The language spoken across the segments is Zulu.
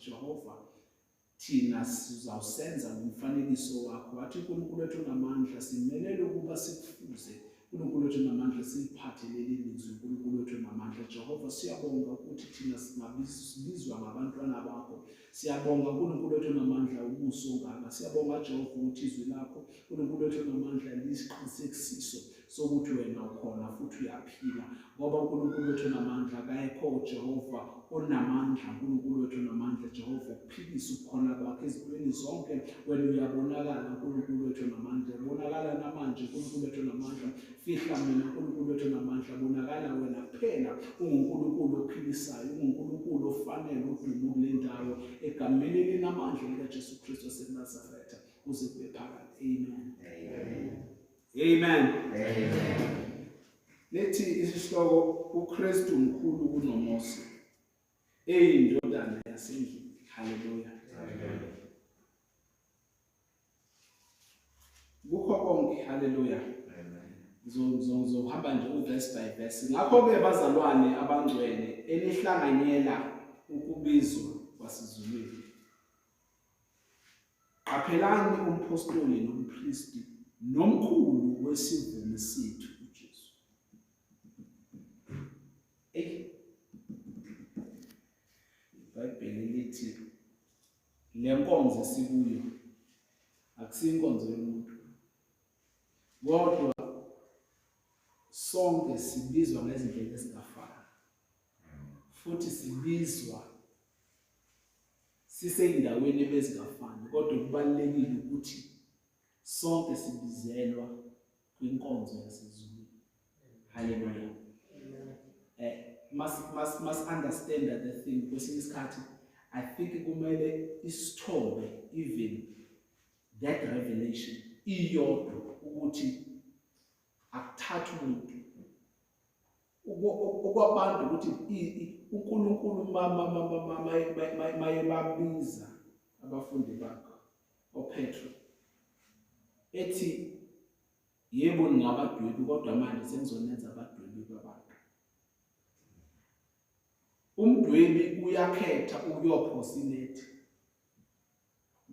Jehova thina sizawusenza ngomfanekiso wakho wathi uNkulunkulu wethu onamandla simelele ukuba sikufuze uNkulunkulu wethu onamandla siliphathe leli lizwi uNkulunkulu wethu onamandla Jehova siyabonga ukuthi thina singabizwa ngabantwana bakho siyabonga uNkulunkulu wethu onamandla ubuso ngaka siyabonga Jehova ukuthi izwi lakho uNkulunkulu wethu onamandla lisiqinisekisiso sokuthi wena ukhona futhi uyaphila ngoba uNkulunkulu wethu namandla akayekho uJehova onamandla uNkulunkulu wethu namandla Jehova ukuphilisa ukukhona kwakhe ezintweni zonke wena uyabonakala uNkulunkulu wethu namandla ubonakala namanje uNkulunkulu wethu namandla fihla mina uNkulunkulu wethu namandla bonakala wena kuphela unguNkulunkulu ophilisayo unguNkulunkulu ofanele udumo kule ndawo egameni elinamandla likaJesu Kristu waseNazaretha uze kube phakade amen amen Amen. Amen. Nethi isihloko uKristu mkhulu kunoMose. Eyindodana yasendlini. Hallelujah. Amen. Kukho konke. Hallelujah. ngizohamba nje uverse by verse ngakho-ke bazalwane abangcwele enihlanganyela ukubizwa kwasizulwini Qaphelani umphostoli nompristi nomkhulu wesivumi sethu uJesu. Ey. IBhayibheli lithi le nkonzo esikuyo akusinkonzo yomuntu. Kodwa sonke sibizwa ngezindlela ezingafani. Futhi sibizwa sisey'ndaweni ebezingafani kodwa kubalulekile ukuthi sonke sibizelwa kwinkonzo yasezulwini haleluya um eh, mas-understanda the thing kwesinye isikhathi i think kumele isithombe even that revelation iyodwa ukuthi akuthathi umuntu okwabantu ukuthi uNkulunkulu maye babiza abafundi bakhe oPetro ethi yebo ningabadwebi kodwa manje senizonenza abadwebi babantu umdwebi uyakhetha ukuyophosa inethi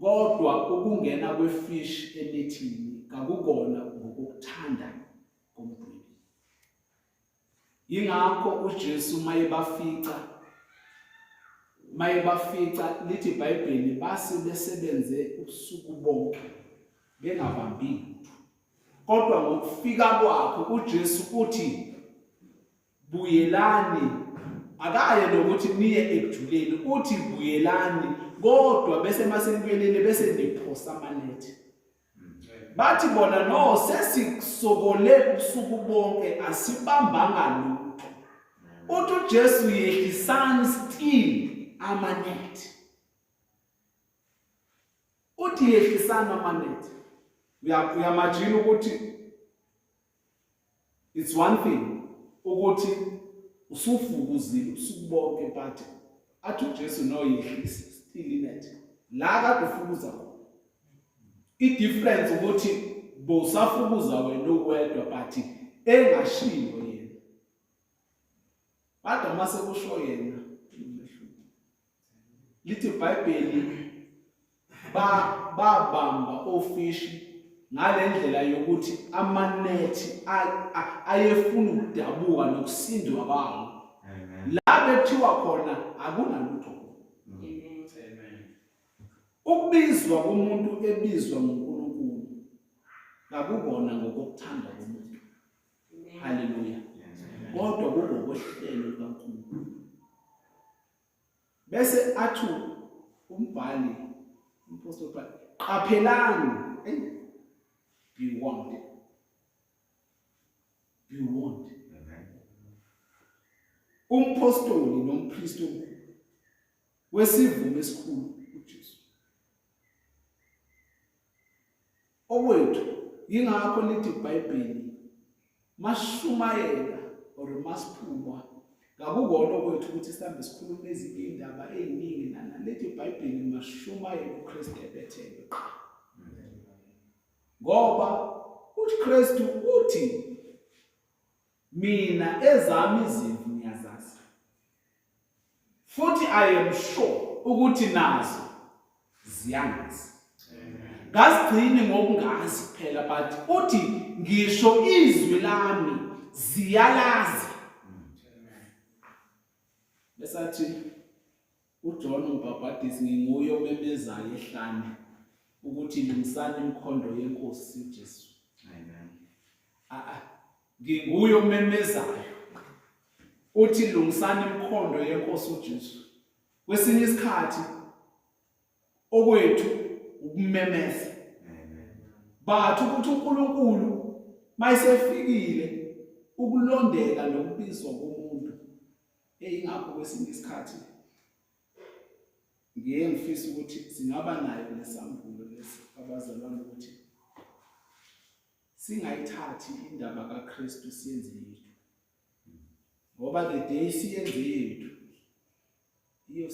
Kodwa ukungena kwefishi enethini kakukona ngokukuthanda komdwebi. Yingakho uJesu mayebafica mayebafica lithi iBhayibheli base besebenze ubusuku bonke bengabambi lutho. Kodwa ngokufika kwakhe uJesu uthi buyelani akaye nokuthi niye ekujuleni uthi buyelani kodwa bese masenibuyelele bese niphosa amanethi bathi bona no sesikusokole ubusuku bonke asibambanga lutho uthi uJesu yehlisani still amanethi uthi yehlisani amanethi uyamajina ukuthi it's one thing ukuthi usufukuzile ubusuku bonke but athi uJesu no yehlisa still inet la kade ufukuza i difference ukuthi bowusafukuza wena uwedwa but engashiyo yena kodwa mase kusho yena lithi ibhayibheli babamba ofishi ngale ndlela yokuthi amanethi ayefuna ukudabuka nokusindwa bawo la bekuthiwa khona akunalutho ukubizwa komuntu ebizwa ngunkulunkulu kakubona ngokokuthanda komuntu haleluya kodwa kungokohlelo lukankulunkulu bese athu umbhali umpostoli Paul qaphelani hey be warned be warned umpostoli nompristo wesivumo esikhulu uJesu Okwethu yingakho lithi iBhayibheli mashumayela or masiphuma ngakukona okwethu ukuthi sihambe sikhuluma ezinye indaba eziningi nana lethi iBhayibheli mashumayela uKristu ebethelwe qha ngoba uKristu uthi Mina ezami izimvu ngiyazazi. Futhi I am sure ukuthi nazo ziyangazi. Ngasigcini ngokungazi kuphela but uthi ngisho izwi lami ziyalazi. Besathi UJohn uMbhabhadisi nginguye omemezayo ehlane ukuthi lungisani imikhondo yenkosi uJesu. Amen. Ah ah nginguye omemezayo uthi lungisani imikhondo yenkosi uJesu. Kwesinye isikhathi okwethu ukumemeza. Amen. Bathu ukuthi uNkulunkulu mayisefikile ukulondeka nokubizwa komuntu Eyingakho kwesinye isikhathi ngiye ngifisa ukuthi singaba nayo nesambulo lesi abazalwane ukuthi singayithathi indaba kaKristu siyenze yethu ngoba the day siyenze yethu iyo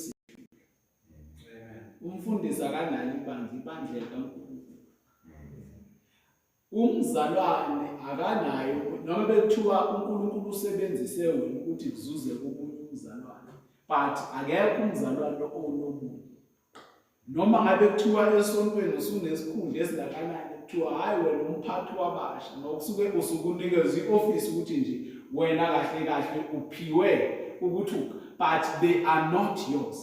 umfundisi akanalo ibandla ibandla likaNkulunkulu Umzalwane akanayo noma bekuthiwa uNkulunkulu usebenzise wena ukuthi kuzuze umuntu umzalwane but akekho umzalwane onomuntu noma ngabe kuthiwa esontweni usunesikhundla esingakanani kuthiwa hhayi wena umphathi wabasha nokusuke usukunikeza i-ofisi ukuthi nje wena kahle kahle uphiwe ukuthi but they are not yours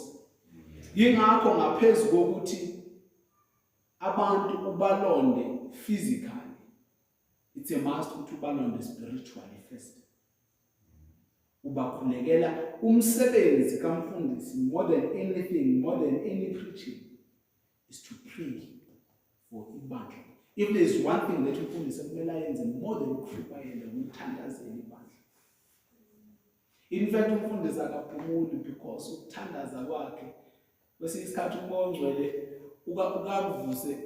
yingakho ngaphezu kokuthi abantu ubalonde physically it's a must ukuthi ubalonde spiritually first ubakhulekela umsebenzi kamfundisi more than anything more than any preaching is to pray for ibandla if there is one thing that umfundisi ekumele ayenze more than ukuhlupayela umthandazela ibandla in fact umfundisi akaphumuli because ukuthandaza kwakhe kwesinye isikhathi umoya ongcwele ukakuvuse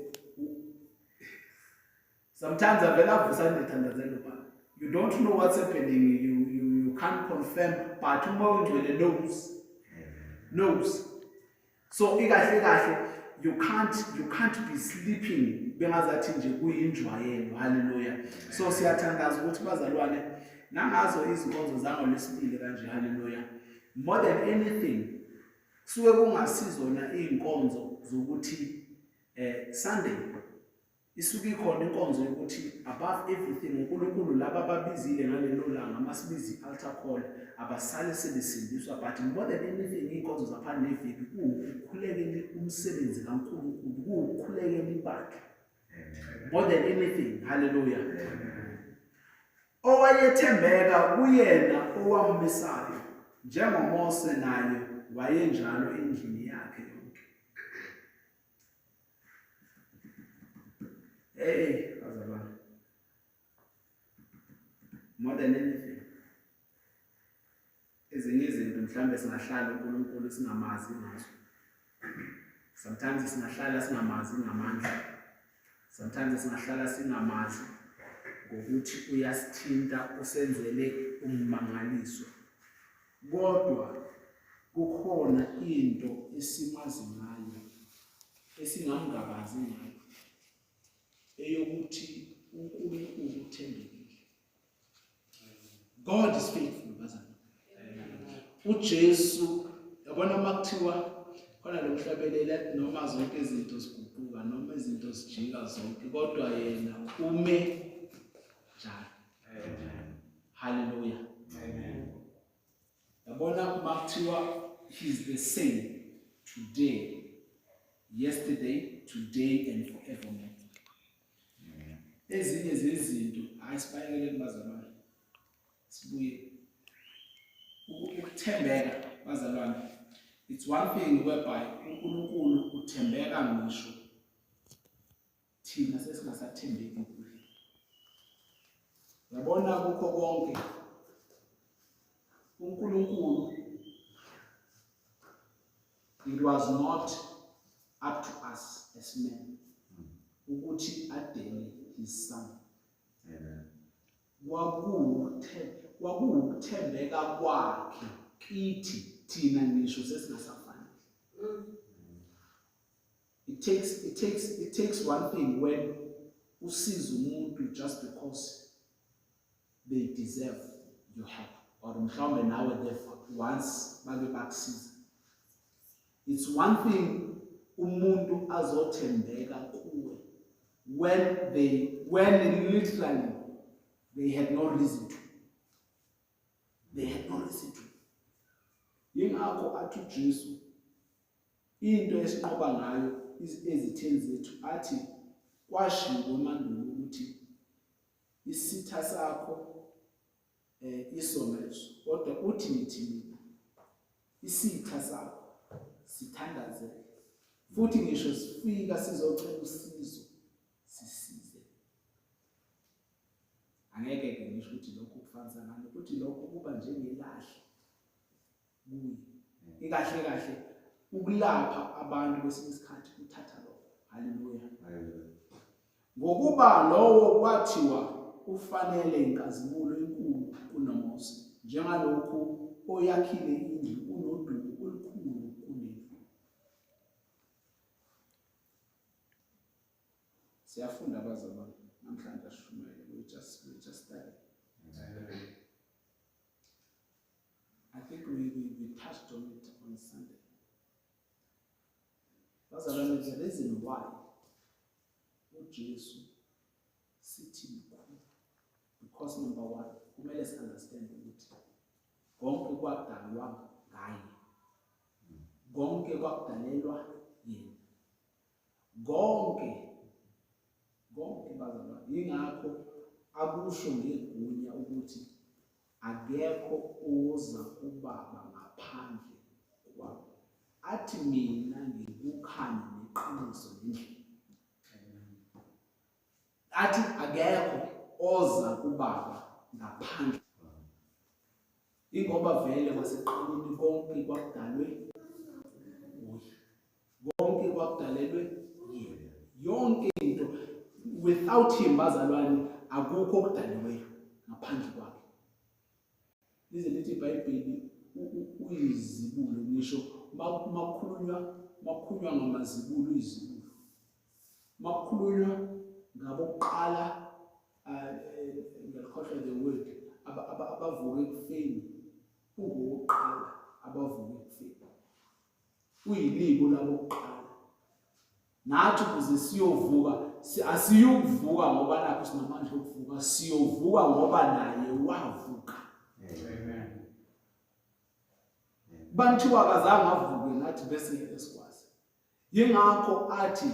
sometimes avele avuse andithandazelo ba you don't know what's happening you, you, you can't confirm but umoya ongcwele knows knows so ikahle kahle you can't you can't be sleeping bengazathi nje kuyinjwayelo haleluya so siyathandaza ukuthi bazalwane nangazo izinkonzo zango lesibili kanje haleluya more than anything Suke kungasizona izinkonzo zokuthi eh Sunday isuke ikhona inkonzo yokuthi above everything uNkulunkulu laba babizile ngalelo langa masibizi altar call abasale sebesindiswa but more than anything inkonzo zaphandle neviki kuwukhulekela umsebenzi kaNkulunkulu kuwukhulekela ibakhe more than anything hallelujah Owayethembeka kuyena owammisayo, njengoMose naye wayenjalo endlini yakhe yonke. Hey, bazalwane. More than anything. ezinye izinto mhlawumbe singahlala uNkulunkulu singamazi ngazo sometimes singahlala singamazi ngamandla sometimes singahlala singamazi ngokuthi uyasithinta usenzele ummangaliso kodwa kukhona into esimazi ngayo esingamngabazi ngayo eyokuthi uNkulunkulu uthembekile God is faithful bazana. UJesu yabona uma kuthiwa khona lo mhlabelele noma zonke izinto ziguquka noma izinto zijika zonke kodwa yena ume njalo. Hallelujah. Amen. Yabona uma kuthiwa he's the same today yesterday today and forevermore. ezinye zezinto hayi sibayekele kubazalwane sibuye ukuthembeka bazalwane it's one thing whereby uNkulunkulu uthembeka ngisho thina sesingasathembeki kuye yabona kukho konke uNkulunkulu it was not up to us as men ukuthi adele his son kwakuwuthemba kwakuwukuthembeka kwakhe kithi thina ngisho sesingasafanele it takes it takes it takes one thing when usiza umuntu just because they deserve your help or mhlawumbe nawe therefore once bake bakusiza it's one thing umuntu azothembeka kuwe when they when literally they had no reason to they had no reason to yingakho athi uJesu into esinqoba ngayo ezitheni zethu athi kwashiwo emandulo ukuthi isitha sakho eh isono leso kodwa uthi ngithini isitha sakho sithandazele futhi ngisho sifika sizocela usizo sisize angeke ke ngisho ukuthi lokho kufanisa ngani ukuthi lokho kuba njengelahle kuye ikahle kahle ukulapha abantu kwesinye isikhathi kuthatha lokho haleluya ngokuba lowo kwathiwa ufanele inkazimulo enkulu kunomose njengalokhu oyakhile indlu unodumo olukhulu kunendlu siyafunda abazalwane namhlanje ashumayele we just we just study I think we, we, we touched on it on Sunday. That's the reason why uJesu sithi mkhulu because number one kumele si understand ukuthi konke kwadalwa ngaye konke kwakudalelwa yena konke konke bazalwane yingakho akusho ngegunya ukuthi akekho oza kubaba ngaphandle kwabo athi mina ngikukhanya neqiniso nendlela athi akekho oza kubaba ngaphandle Ingoba vele kwasekuqaleni konke kwakudalwe nguye. Konke kwakudalelwe yena. Yonke into without him bazalwane akukho okudaliweyo ngaphandle kwakhe. Lize lithi iBhayibheli uyizibulo ngisho makukhulunywa makukhulunywa ngamazibulo uyizibulo. makukhulunywa ngabokuqala eh, eh, ngiyakhohlwa the word abavuke ekufeni ungowokuqala abavuke ekufeni uyilibo labokuqala nathi ukuze siyovuka asiyukuvuka ngoba nakho sinamandla okuvuka siyovuka ngoba naye wavuka banthiwa akazange avuke nathi bese ngeke sikwazi Yingakho athi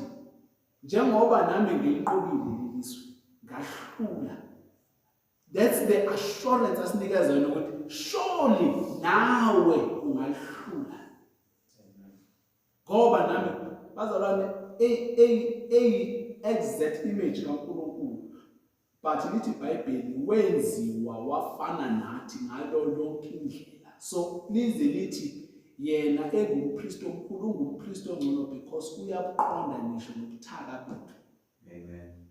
njengoba nami ngilinqobile leli zwe ngahlula that's the assurance asinikeza yona ukuthi surely nawe ungalihlula ngoba nami bazalwane eyi exact image kaNkulunkulu but lithi ibhayibheli wenziwa wafana nathi ngalo lonke indlela so lize lithi yena engumpristi omkhulu ungumpristi ongcono because uyabuqonda ngisho nobuthaka bethu amen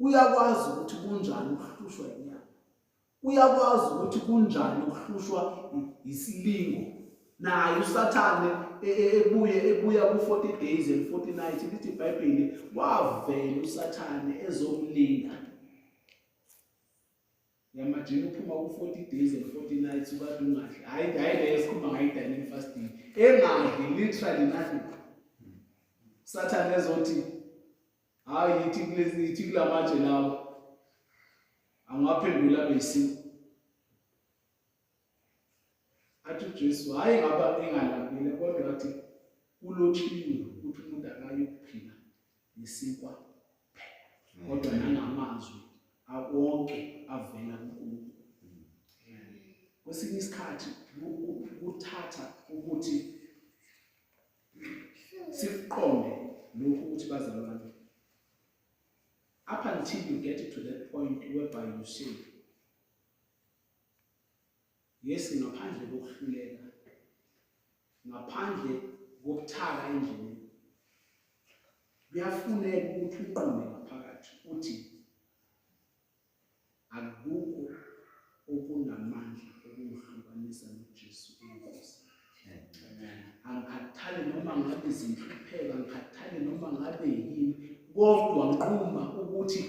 uyakwazi ukuthi kunjani ukuhlushwa inyama uyakwazi ukuthi kunjani ukuhlushwa isilingo naye usathane e, e, ebuye ebuya ku-40 days and 40 nights lithi ibhayibheli wavela usathane ezomlinga yamajini uphuma ku-40 days and 40 nights ukade ungadli hhayi hhayi leyo sikhuluma ngayi-dining fasting engadli literally nothing sathane ezothi hhayi yithi yithi kula matshe lawo angaphendula besiku athi uJesu hayi ngaba engalambile kodwa athi kulotshiwe ukuthi umuntu akayokuphila ngesikwa phela kodwa nangamazwi awonke avela kuNkulunkulu kwesinye isikhathi kuthatha ukuthi sikuqonde lokhu ukuthi bazalwane up until you get to that point whereby you say Yes ngaphandle kokuhluleka. Ngaphandle kokuthaka endlini. Kuyafuneka ukuthi uqonde ngaphakathi uthi akukho okunamandla okumhlukanisa noJesu. angikhathali noma ngabe zinhlupheka ngikhathali noma ngabe yini kodwa nquma ukuthi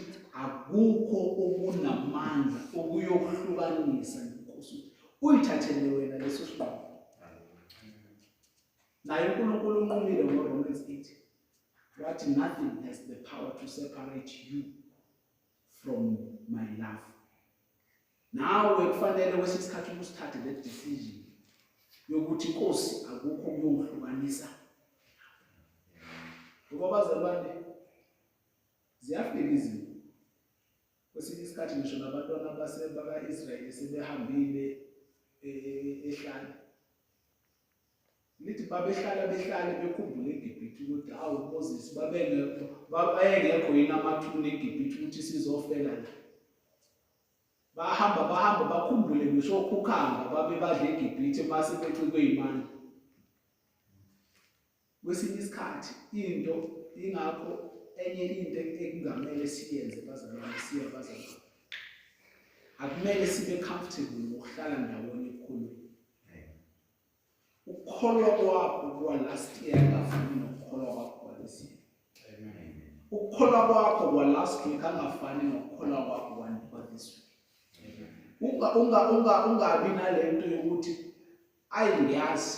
akukho okunamandla okuyokuhlukanisa nenkosi uyithathele wena leso sinqumo naye unkulunkulu unqumile ngoromans 8 wathi nothing has the power to separate you from my love nawe kufanele kwesinye isikhathi ubusithathe le decision yokuthi inkosi akukho kuyongihlukanisa ngoba bazalwane ziyafika izinto kwesinye isikhathi ngisho nabantwana baka-israyeli sebehambile eh, ehlane lithi babehlala behlale bekhumbule egibhithe ukuthi awu moses babengekho yini amathuna egibhithe ukuthi sizofela la bahamba bahamba bakhumbule ngisho ukhukhamba babe badla egibhithe base becikwe imandla kwesinye isikhathi into ingakho enye into ekungamele siyenze bazalwane siye bazalwane akumele sibe comfortable ngokuhlala ndawonye ukukholwa kwakho kwa-last year angafani nokukholwa kwakho kwalesi year ukukholwa kwakho kwa-last week angafani nokukholwa kwakho kwa-this week ungabi nale nto yokuthi ayi ngiyazi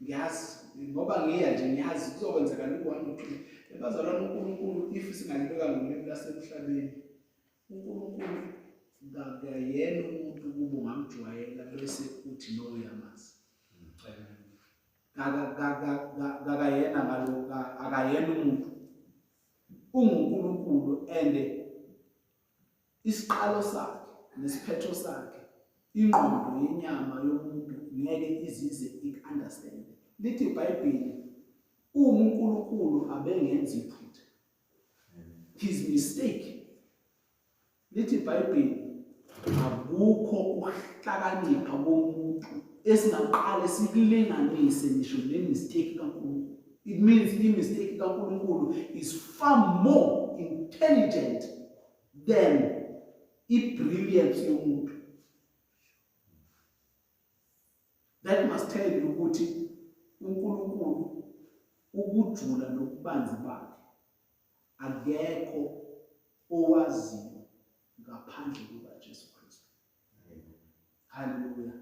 ngiyazi ngoba ngiya nje ngiyazi kuzokwenzeka loku-one or two ebazalwane unkulunkulu if singalibeka ngolimi lasemhlabeni uNkulunkulu kakuyena umuntu ukuba ungamjwayela bese uthi no uyamazi kakayena ngalokhu akayena umuntu unguNkulunkulu and isiqalo sakhe nesiphetho sakhe ingqondo yenyama yomuntu ngeke izize ikunderstand lithi ibhayibheli uma uNkulunkulu abengenzi iphutha his mistake lithi ibhayibheli akukho ukuhlakanipha komuntu esingaqale sikulinganise ngisho nemistake kankulunkulu it means imistake kankulunkulu is far more intelligent than ibrilliance yomuntu That must tell you ukuthi uNkulunkulu ukujula nokubanzi bakhe akekho owaziyo ngaphandle kukaJesu Kristu. Haleluya.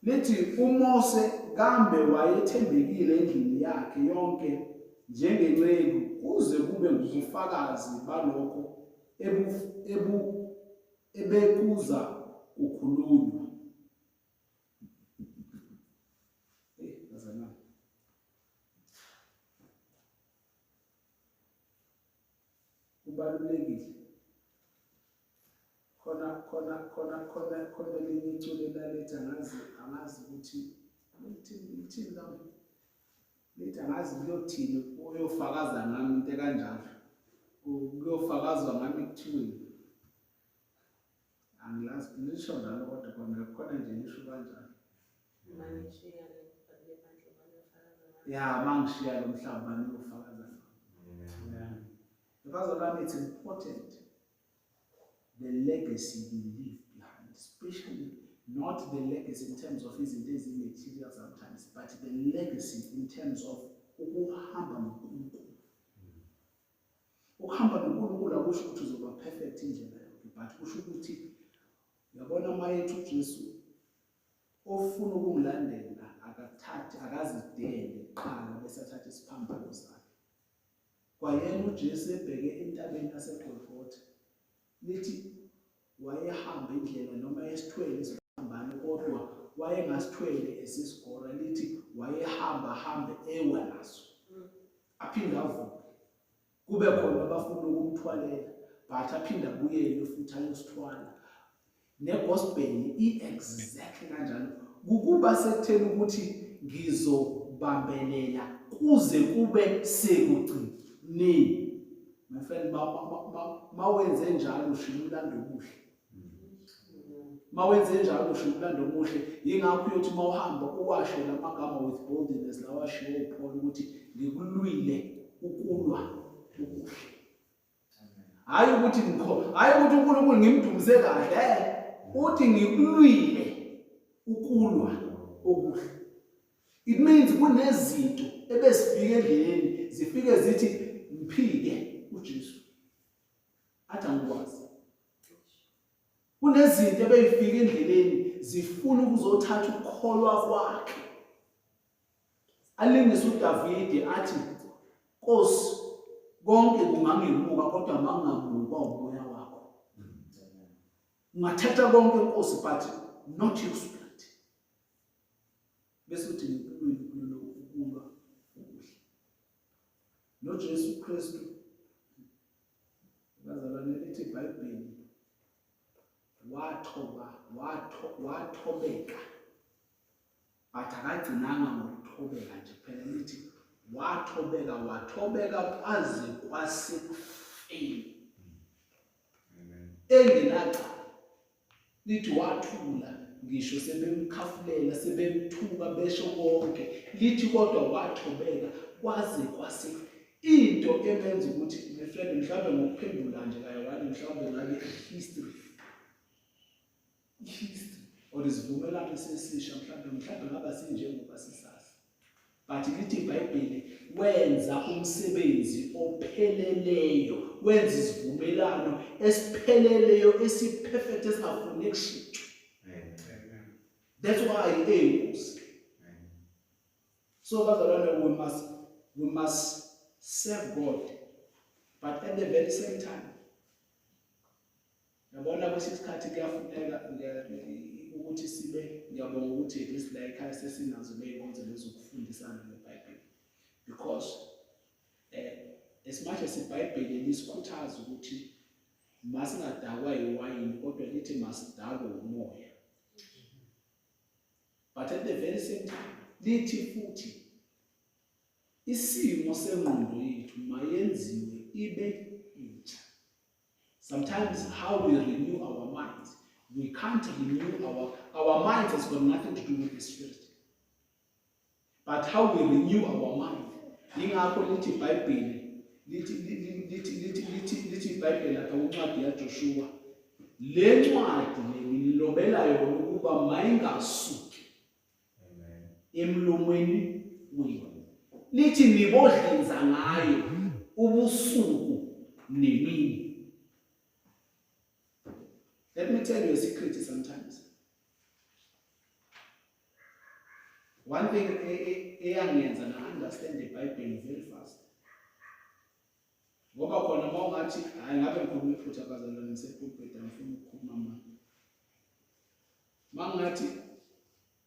Lithi uMose kambe wayethembekile endlini yakhe yonke njengenceku kuze kube ngubufakazi balokho ebu ebu ebekuza kukhulunywa kubalulekile khona khona khona khona khona elinye iculo elaletha ngazi angazi ukuthi lithini lithini lami Ngithi angazi kuyothini uyofakaza ngami into ekanjalo. Kuyofakazwa ngami kuthiweni. Angilazi ngisho njalo kodwa khona khona nje ngisho kanjalo. Mangishiya le bhadle bhadle bangifakaza ngami. Ya mangishiya lo mhlaba bani uyofakaza ngami. Amen. Mfazi wami it's important. the legacy you leave behind, especially not the legacy in terms of his days in material sometimes, but the legacy in terms of ukuhamba noNkulunkulu. Ukuhamba noNkulunkulu akusho ukuthi uzoba perfect indlela yonke, but kusho ukuthi yabona mayethu uJesu ofuna ukumlandela akathathi akazidele qala bese athathe isiphambano sakhe. Kwayena uJesu ebheke entabeni yaseGolgotha, lithi wayehamba indlela noma esithwele isiphambano kodwa wayengasithwele esisigora lithi wayehamba hambe ewa naso aphinde avuke kube khona abafuna ukumthwalela but aphinde abuyele futhi ayosithwala negospel i-exactly kanjalo kukuba sekutheni ukuthi ngizobambelela kuze kube sekugcineni my friend mawenze njalo ushiya umlando omuhle mawenze njalo ushiya umlando omuhle yingakho uyothi uma uhamba uwashe la magama with boldness lawa ashiwo uphole ukuthi ngikulwile ukulwa okuhle hayi ukuthi hayi ukuthi uNkulunkulu ngimdumise kahle eh, uthi ngikulwile ukulwa okuhle it means kunezinto ebesifike endleleni zifike zithi mphike uJesu athi angikwazi kunezinto ebeyifika endleleni zifuna ukuzothatha ukukholwa kwakhe Alingisa uDavide athi Nkosi konke kungangimuka kodwa mangamuka umoya wakho. Ungathatha konke Nkosi but not your spirit. Bese uthi ngikuwe kulelo ukulwa ukuhle. NoJesu Kristu bazalwane lithi iBhayibheli wathoba watho wathobeka but akagcinanga ngokuthobeka nje phela lithi wathobeka wathobeka kwaze kwasekufeni engenaca lithi wathula ngisho sebemkhafulela sebemthuka besho konke lithi kodwa wathobeka kwaze kwase into emenza ukuthi my friend mhlawumbe ngokuphendula nje kaye wani mhlawumbe ngabe history history or isivumelwano esesisha mhlawumbe mhlawumbe ngaba sinjengoba sisazi but lithi ibhayibheli wenza umsebenzi opheleleyo wenza isivumelwano esipheleleyo esiperfect esingafuni kushintshwa that's why eyinkosi so bazalwane we must we must serve god but at the very same time Yabona kwesinye isikhathi kuyafuneka ukuthi sibe ngiyabonga ukuthi at least la ekhaya sesinazo ney'nkonzo lezokufundisana ngebhayibheli because um as much as ibhayibheli lisikhuthaza ukuthi masingadakwa yiwayini kodwa lithi masidakwe umoya but at the very same time lithi futhi isimo sengqondo yethu mayenziwe ibe Sometimes how we renew our minds, we can't renew our, our minds has got nothing to do with the spirit. But how we renew our mind. Ingakho lithi iBhayibheli lithi lithi lithi lithi lithi iBhayibheli lapha kwincwadi yaJoshua. Le ncwadi ngililobela yona ukuba mayingasuki emlomweni wenu nithi nibodlinza ngayo ubusuku nemini let me tell you a secret sometimes one thing eyangenza na understand the bible very fast ngoba khona uma ungathi hhayi ngabe ngikhuluma iphutha bazalwane ngisepulpit angifuni ukukhuluma manje uma ngathi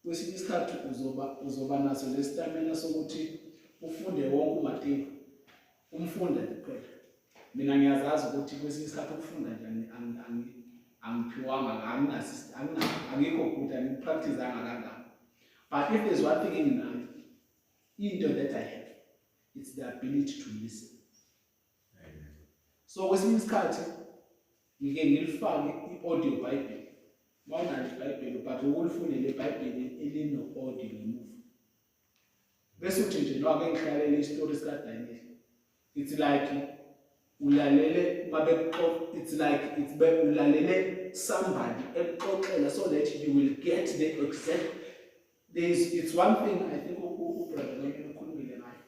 kwesinye isikhathi uzoba uzoba naso lesitamina sokuthi ufunde wonke umatingo umfunda kuphela mina ngiyazazi ukuthi kwesinye isikhathi ukufunda njani angiphiwanga angikho good angipractizanga kangako but if there's one thing enginayo into that i have it's the ability to listen so kwesinye isikhathi ngike ngilifake i-audio bible wawunalo ibhayibheli but ukulifundele ibhayibheli elino-audio ngemuva bese uthi nje no ake ngihlalele isitori sikadaniel it's like ulalele uma bekuxoxa it's like it's be ulalele somebody ekuxoxela so that you will get the exact There is, it's one thing I think uBrother ukhulumile ngayo.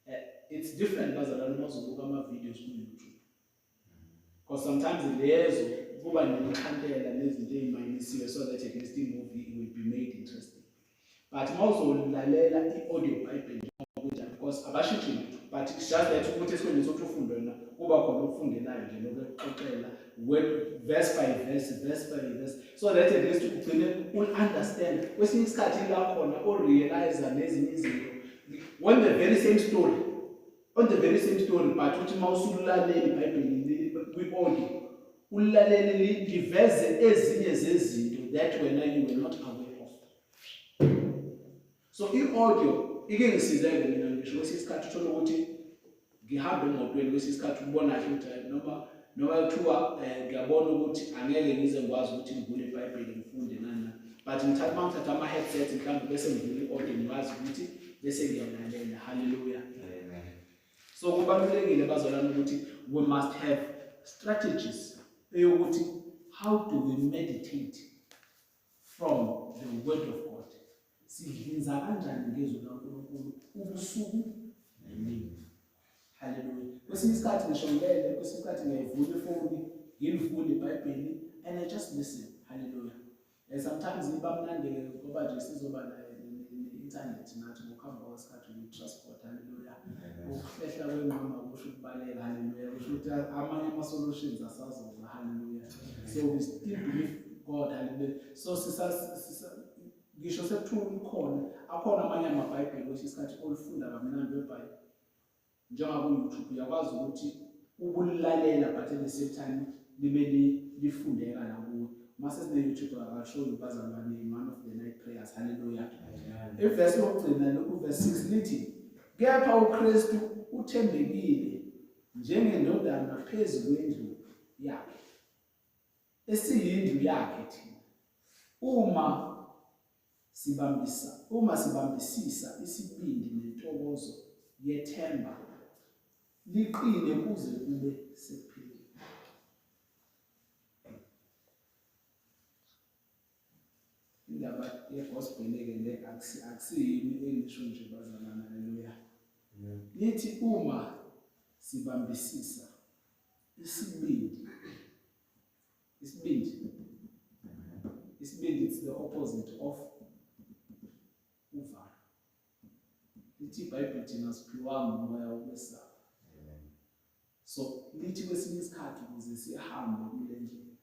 Eh, it's different bazalwane uma uzobuka ama-videos ku-YouTube. Because sometimes lezo kuba nemikhandela nezinto ey'mayinisiwe so that at least i-movie will be made interesting. But uma uzolalela i-audio Bible njengokunjani because abashitshi lutho but it's just that ukuthi esikhundleni sokuthi ufunde wena kuba khona okufundelayo nje lokuxoxela verse by verse verse by verse so that at least ugcine u-understand kwesinye isikhathi ila khona o-realiza nezinye izinto on the very same story on the very same story but uthi uma usululaleli ibhayibheli kwi-audio ulaleli liveze ezinye zezinto that wena you were not aware so i-audio ike ngisizeke mina ngisho kwesinye isikhathi uthole ukuthi ngihambe emotweni kwesinye isikhathi ukubona kahle ukuthi hayi noma noma kuthiwa eh, ngiyabona ukuthi angeke ngize ngikwazi ukuthi ngivule ibhayibheli ngifunde nana but ngithatha uma ngithatha ama-headset mhlawumbe bese ngivule i-audio ngikwazi ukuthi bese ngiyalalela halleluya so kubalulekile bazalwane ukuthi we must have strategies eyokuthi how do we meditate from the word of God sidlinza kanjani ngezwi likaNkulunkulu ubusuku nemini haleluya kwesinye isikhathi ngisho ngilele kwesinye isikhathi ngiyayivula ifoni ngilivule ibhayibheli and i just listen haleluya and sometimes iba mnandeke ngoba nje sizoba naye internet nathi ngokuhamba kwesikhathi transport haleluya ukuhlehla kwenqama kusho ukubaleka haleluya kusho ukuthi amanye ama-solutions asazoza haleluya so we still believe god haleluya so ngisho sekuthiwa ukhona akhona amanye amabhayibheli kwesinye isikhathi olufunda kamnandi webhayibheli njengoba ku-youtube uyakwazi ukuthi ubulalela but at the same time libe lifundeka nakuwe uma sesine-youtube akashoyo bazalwane one of the night prayers halleluya ivesi yokugcina lokuvesi six lithi kepha ukristu uthembekile njengendodana phezu kwendlu yakhe esiyindlu yakhe thina uma Sibambisa, uma sibambisisa isibindi nentokozo yethemba liqine kuze kube sekupheleni. Indaba yegospel-ke le akusiyimi engisho nje bazalwana, haleluya. Nithi uma sibambisisa isibindi isibindi isibindi it's the opposite of uvalo lithi ibhayibheli thina siphiwanga umoya wokwesaba so lithi kwesinye isikhathi ukuze sihambe kule ndlela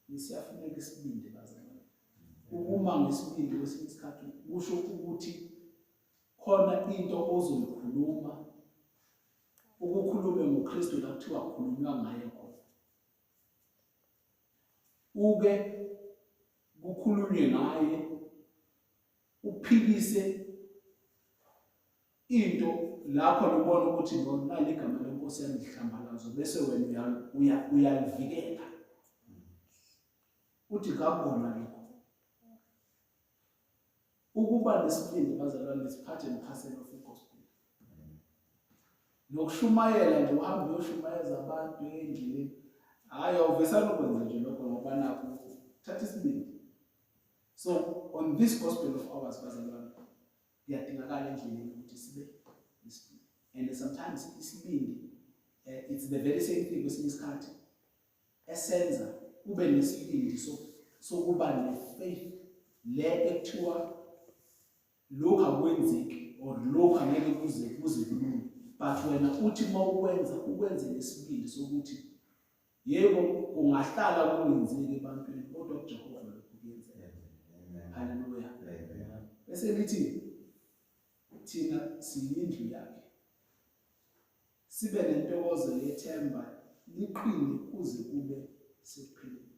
isiyafuneka isibindi bazalwane ukuma ngesibindi kwesinye isikhathi kusho ukuthi khona into ozoyikhuluma ukukhulume ngoKristu la kuthiwa kukhulunywa ngaye khona uke kukhulunywe ngaye uphikise into lapho ubona ukuthi lona ligama lenkosi yangihlambalazo bese wena uyalivikela uthi kakona lokho ukuba nesibindi bazalwane nisiphathe emkhaseni of igospel nokushumayela nje uhambe uyoshumayeza abantu endlini hhayi awuvesani ukwenza nje lokho ngoba nakho thatha isibindi so on this gospel of ours bazalwane kuyadingakala endleleni ukuthi sibe nesibindi and sometimes isibindi uh, it's the very same thing kwesinye isikhathi esenza ube nesibindi sokuba ne-faith le ekuthiwa lokhu akwenzeki or lokhu angeke kuze kuze kulunge but wena uthi uma ukwenza ukwenze nesibindi sokuthi yebo kungahlala kungenzeki ebantwini kodwa kujehova lokhu kuyenzeka haleluya bese lithi thina siyindlu yakhe Sibe nentokozo yethemba liqine kuze kube sekupheleni.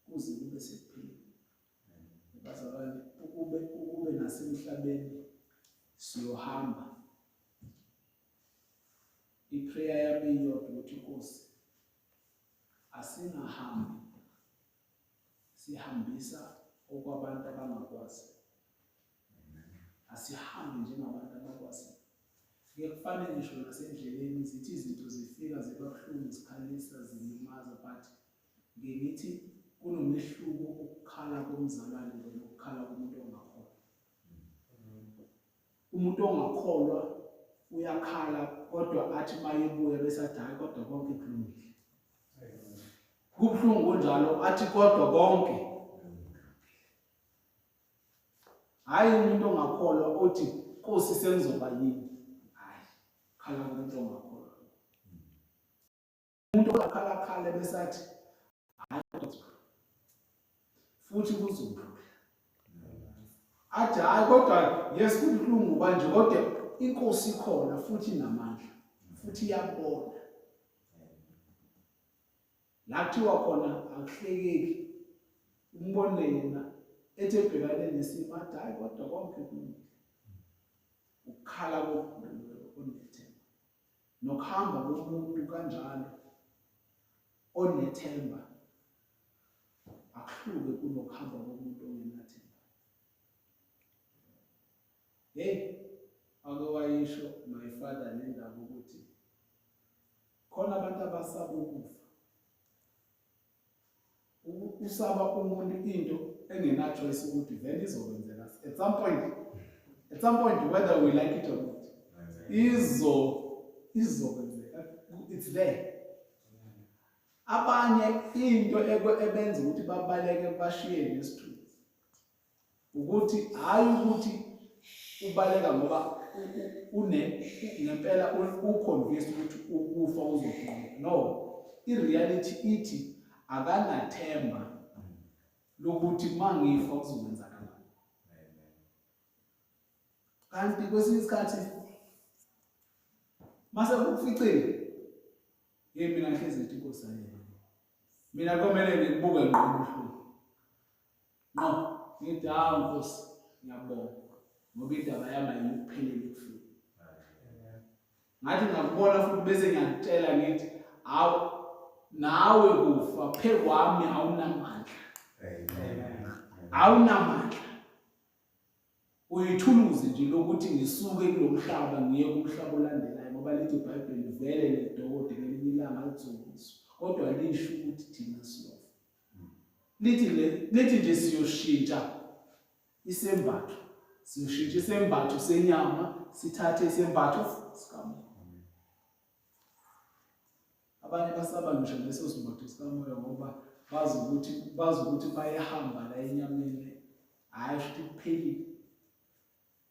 Kuze kube sekupheleni. Bazalwane ukube ukube nasemhlabeni siyohamba. Iprayer yami iyodwa ukuthi Nkosi asingahambi sihambisa okwabantu abangakwazi asihambe njengabantu abakwazi kuyekufane ngisho nasendleleni zithi izinto zifika zibabuhlungu zikhalisa zilimaza but ngithi kunomehluko ukukhala komzalwane nokukhala komuntu ongakholwa umuntu ongakholwa uyakhala kodwa athi mayebuya besathi hayi kodwa konke kulungile kubuhlungu kunjalo athi kodwa konke hhayi umuntu ongakholwa othi nkosi sengizoba yini hhayi khala kumuntu ongakholwa umuntu ongakhalakhala besathi hhayi futhi kuzodlula athi hhayi kodwa yes kubuhlungu kanje kodwa inkosi ikhona futhi inamandla futhi iyabona Lathiwa khona akuhlekeki umbone yena ethi ebhekane nesimo athi hhayi kodwa konke kulungile ukukhala kokudlululeko onethemba nokuhamba komuntu kanjalo onethemba akuhluke kunokuhamba komuntu ongenathemba hey ake wayisho my father nendaba ukuthi khona abantu abasaba ukufa usaba umuntu into engenachoice ukuthi vele izokwenzeka at some point at some point whether we like it or not izo izokwenzeka it's there abanye into ebenza ukuthi babaleke bashiye nesithuthi ukuthi hayi ukuthi ubaleka ngoba une ngempela uconvinced ukuthi ukufa uzoqoqa no ireality ithi akanathemba lokuthi mangifa kuzokwenzakala kanti kwesinye isikhathi mase kukuficile hey mina ngihlezi ngithi inkosi ayena mina komele ngikubuke ngqondo nqo ngithi hawu nkosi ngiyabonga ngoba indaba yami ayikupheleli kufika ngathi ngakubona futhi bese ngiyakutshela ngithi hawu nawe kufa phe kwami awunamandla awunamandla uyithuluzi nje lokuthi ngisuke kulo mhlaba ngiye kumhlaba olandelayo ngoba lithi ibhayibheli vele nedokotela elinye ilanga lizokuzo kodwa lisho ukuthi thina siyofa lithi le lithi nje siyoshintsha isembatho siyoshintsha isembatho senyama sithathe isembatho sikamoya abanye basaba ngisho leso simbatho sikamoya ngoba bazi ukuthi bazi ukuthi bayahamba la enyameni hhayi futhi kuphelile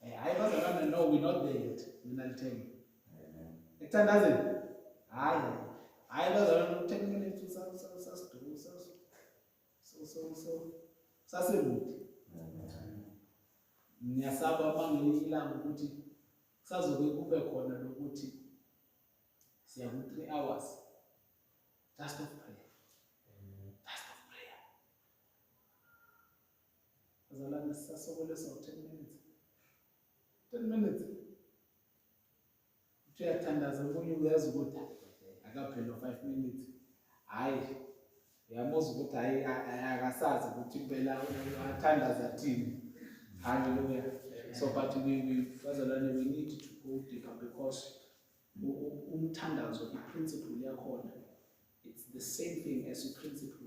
Eh, hayi bazalwane no we not there yet mina lithenge ekuthandazeni hayi hayi bazalwane ten minutes usasiduku sasekude ngiyasaba bangeli ilanga ukuthi kusazoke kube khona lokuthi siya ku-three hours just of prayer Azalane sisasokolisa u-10 minutes. 10 minutes. Uthi uyathandaza omunye uyazi ukuthi akaphela 5 minutes. Hayi uyamuzwa ukuthi hayi akasazi ukuthi impela athandaza thini. Hallelujah. So but we, we bazalwane we need to go deeper because umthandazo i-principle yakhona it's the same thing as i-principle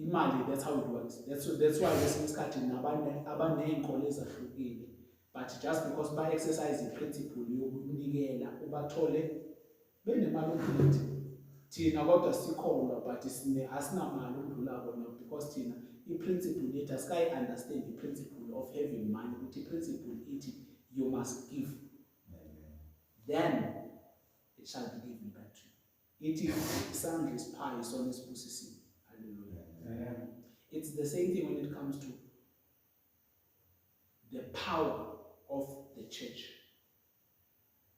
imali that's how it works that's, that's why kwesinye isikhathi abaney'nkolo ezahlukile but just because ba-exercise i-principle yokunikela ubathole benemali umphilithi thina kodwa sikholwa but asinamali ukudlula kona because thina i-principle yethu asikayi-understand i-principle of having money ukuthi i-principle ithi you must give then it shall be given Ithi isandla esiphayo isona esibusisiwe. Hallelujah. It's the same thing when it comes to the power of the church.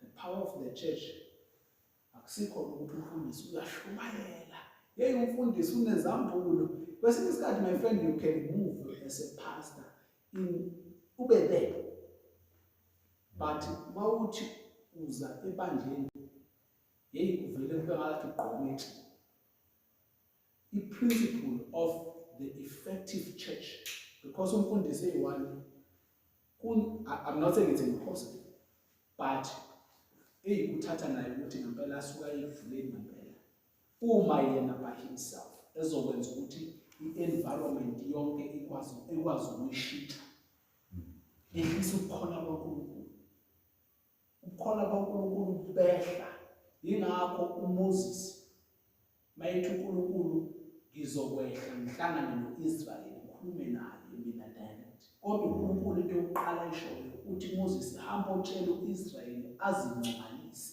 The power of the church akusikho ukuthi umfundisi uyashumayela. Yey umfundisi unezambulo. Kwesinye isikhathi my friend you can move as a pastor in ube there. But mawuthi uza ebandleni yeyi kuvele kube ngathi gqomithi i-principle of the effective church because umfundisi eyi-one i'm not saying it's impossible but eyi kuthatha naye ukuthi ngempela asuka ekuvuleni ngempela uma yena by himself ezokwenza ukuthi i-environment yonke ikwazi ukuyishitha ehlisa ukukhona kwankulunkulu ubukhona bukaNkulunkulu bubehla yingakho uMoses mayethi uNkulunkulu ngizokwehla ngihlangane noIsrael ngikhulume naye mina direct kodwa uNkulunkulu into yokuqala ayishoyo uthi Moses hamba otshela uIsrael azingcwalise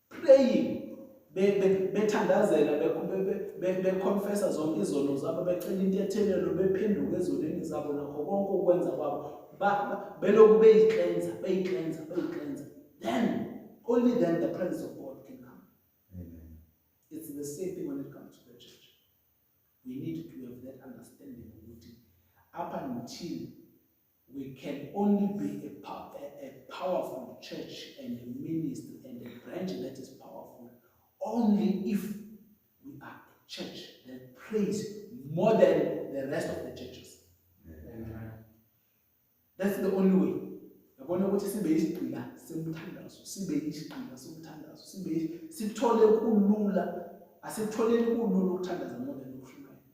praying bethandazela beconfessa zonke izono zabo becela intethelelo bephenduka ezonweni zabo nakho konke ukwenza kwabo belokhu beyiklenza beyiklenza beyiklenza then only then the presence of god can come Amen. it's the same thing when it comes to the church we need to have that understanding ukuthi up until We can only be a, pow a, a powerful church and a ministry and a branch that is powerful only if we are a church that prays more than the rest of the churches. Amen. That's the only way. yabona ukuthi sibe isigqila semthandazo sibe isigqila somthandazo sibe sithole kulula asitholeni kulula ukuthandaza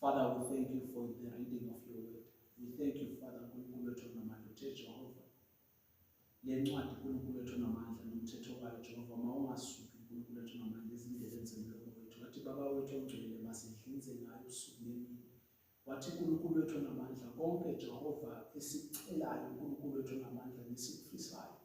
Father, we thank you for the reading of your word. We thank you, Father, uNkulunkulu wethu onamandla, uthe Jehova. Le ncwadi uNkulunkulu wethu onamandla nomthetho wayo Jehova mawungasuki uNkulunkulu wethu onamandla ezindleleni zemlomo wethu. Wathi baba wethu ongcwele masidlinze ngayo usuku nemini. Wathi uNkulunkulu wethu onamandla konke Jehova esicelayo uNkulunkulu wethu onamandla nesikufisayo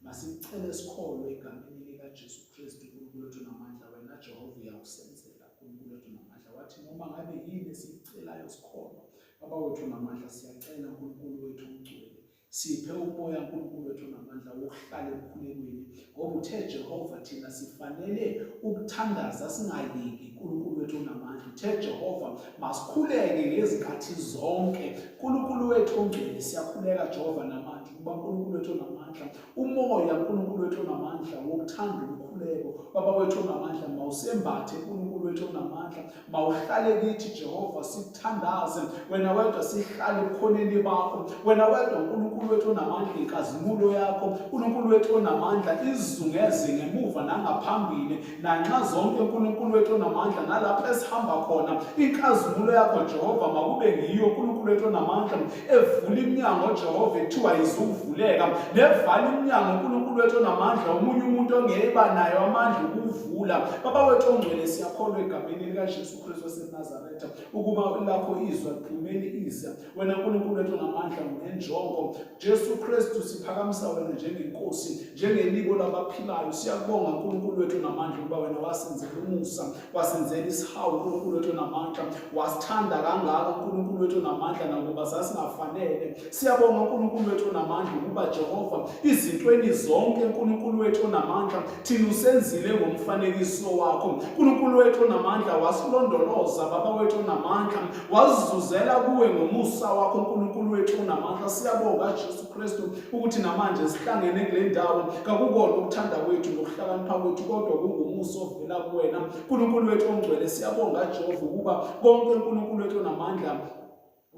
Masicele sikholwe egameni likaJesu Kristu uNkulunkulu wethu namandla wena Jehova uyakusenzela uNkulunkulu wethu namandla wathi noma ngabe yini esiyicelayo sikholwa Baba wethu namandla siyacela uNkulunkulu wethu ungcwele siphe umoya uNkulunkulu wethu namandla wokuhlala emkhulekweni ngoba uthe Jehova thina sifanele ukuthandaza singayeki uNkulunkulu wethu onamandla uthe Jehova masikhuleke ngezikhathi zonke uNkulunkulu wethu ongcwele siyakhuleka Jehova namandla Baba uNkulunkulu wethu onamandla, umoya uNkulunkulu wethu onamandla wokuthanda umkhuleko. Baba wethu onamandla, mawusembathe uNkulunkulu wethu onamandla, mawuhlale kithi Jehova, sithandaze wena wedwa, sihlale ebukhoneni bakho wena wedwa, uNkulunkulu wethu onamandla, inkazimulo yakho uNkulunkulu wethu onamandla izungeze ngemuva nangaphambili, nanxa zonke uNkulunkulu wethu onamandla nalapho esihamba khona inkazimulo yakho Jehova makube ngiyo uNkulunkulu wethu onamandla evula iminyango Jehova ethiwa izuvuleka nevala iminyango uNkulunkulu wethu onamandla omunye umuntu ongeba nayo amandla ukuvula baba wethu ongcwele siyakholwa egameni likaJesu Kristu waseNazaretha ukuba lakho izwi liphumele ize wena nkulunkulu wethu ngamandla ngenjongo jesu kristu siphakamisa wena njengenkosi njengeliko labaphilayo siyakubonga nkulunkulu wethu namandla ukuba wena wasenzela umusa wasenzela isihawu nkulunkulu wethu namandla wasithanda kangaka nkulunkulu wethu namandla nakuba sasingafanele siyabonga nkulunkulu wethu namandla ukuba jehova izintweni zonke nkulunkulu wethu namandla thina usenzile ngomfanekiso wakho nkulunkulu wethu namandla wasilondoloza baba wethu namandla wazizuzela kuwe ngomusa wakho uNkulunkulu wethu unamandla siyabonga Jesu Kristu ukuthi namanje sihlangene kule ndawo kakukona ukuthanda kwethu nokuhlakanipha kwethu kodwa kungumusa ovela kuwena uNkulunkulu wethu ongcwele siyabonga Jehova ukuba konke uNkulunkulu wethu onamandla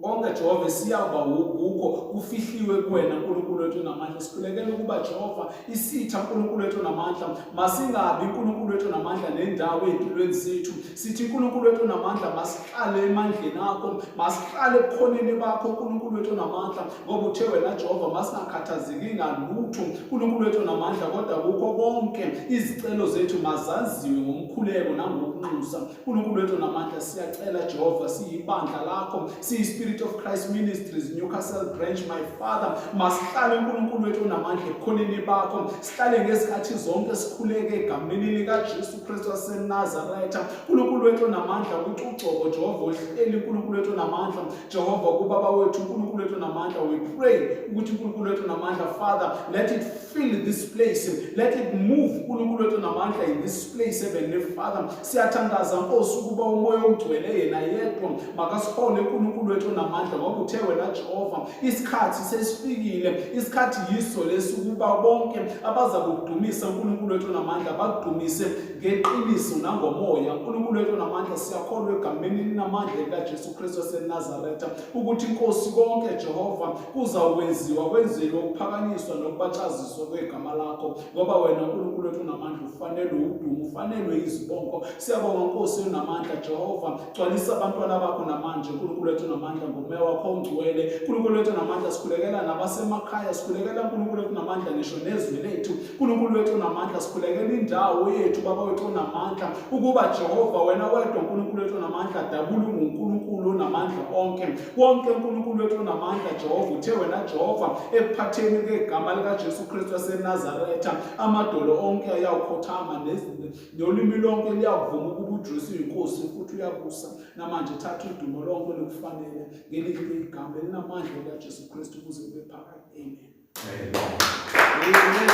konke Jehova siyaba wukho kufihliwe kuwena uNkulunkulu wethu namandla sikhulekela ukuba Jehova isitha uNkulunkulu wethu namandla masingabi uNkulunkulu wethu namandla nendawo ezimpilweni zethu sithi uNkulunkulu wethu namandla Hlale emandleni akho, masihlale ebukhoneni bakho uNkulunkulu wethu onamandla, ngoba uthe wena Jehova masingakhathazeki ngalutho. uNkulunkulu wethu onamandla, kodwa kukho konke izicelo zethu mazaziwe ngomkhuleko nangokunxusa. uNkulunkulu wethu onamandla, siyacela Jehova, siyibandla lakho, siyi-Spirit of Christ Ministries, Newcastle Branch, my Father, masihlale uNkulunkulu wethu onamandla ebukhoneni bakho, sihlale ngezikhathi zonke sikhuleke egameni likaJesu. Kristu waseNazaretha uNkulunkulu wethu onamandla ukuthi ugcobo Jehova uhleli uNkulunkulu wethu onamandla Jehova kubaba wethu uNkulunkulu wethu onamandla we pray ukuthi uNkulunkulu wethu onamandla Father let it fill this place let it move uNkulunkulu wethu onamandla in this place heavenly Father siyathandaza Nkosi ukuba umoya ongcwele yena yedwa makasihole uNkulunkulu wethu onamandla ngoba uthe wena Jehova isikhathi sesifikile isikhathi yiso lesi ukuba bonke abaza kudumisa uNkulunkulu wethu namandla bakudumise ngeqiniso nangomoya uNkulunkulu wethu namandla siyakholwa egameni linamandla likaJesu Kristu waseNazaretha ukuthi inkosi konke Jehova kuzawukwenziwa kwenzelwe ukuphakanyiswa nokubatshaziswa kwegama lakho ngoba wena uNkulunkulu wethu namandla ufanelwe udumo ufanelwe izibongo siyabonga inkosi enamandla Jehova Gcwalisa abantwana bakho namanje uNkulunkulu wethu namandla ngomoya wakho ongcwele uNkulunkulu wethu namandla sikhulekela nabasemakhaya sikhulekela uNkulunkulu wethu namandla ngisho nezwi lethu uNkulunkulu wethu namandla sikhulekela indawo yethu baba wethu onamandla ukuba Jehova wena wedwa uNkulunkulu wethu namandla dabula unguNkulunkulu onamandla onke wonke uNkulunkulu wethu onamandla Jehova uthe wena Jehova ekuphatheni kwegama likaJesu Kristu waseNazaretha amadolo onke ayawukhothama nolimi lonke luyakuvuma ukuba uJesu uyinkosi futhi uyabusa namanje thatha udumo lonke lokufanele ngelinye igama elinamandla likaJesu Kristu ukuze kube phakade amen amen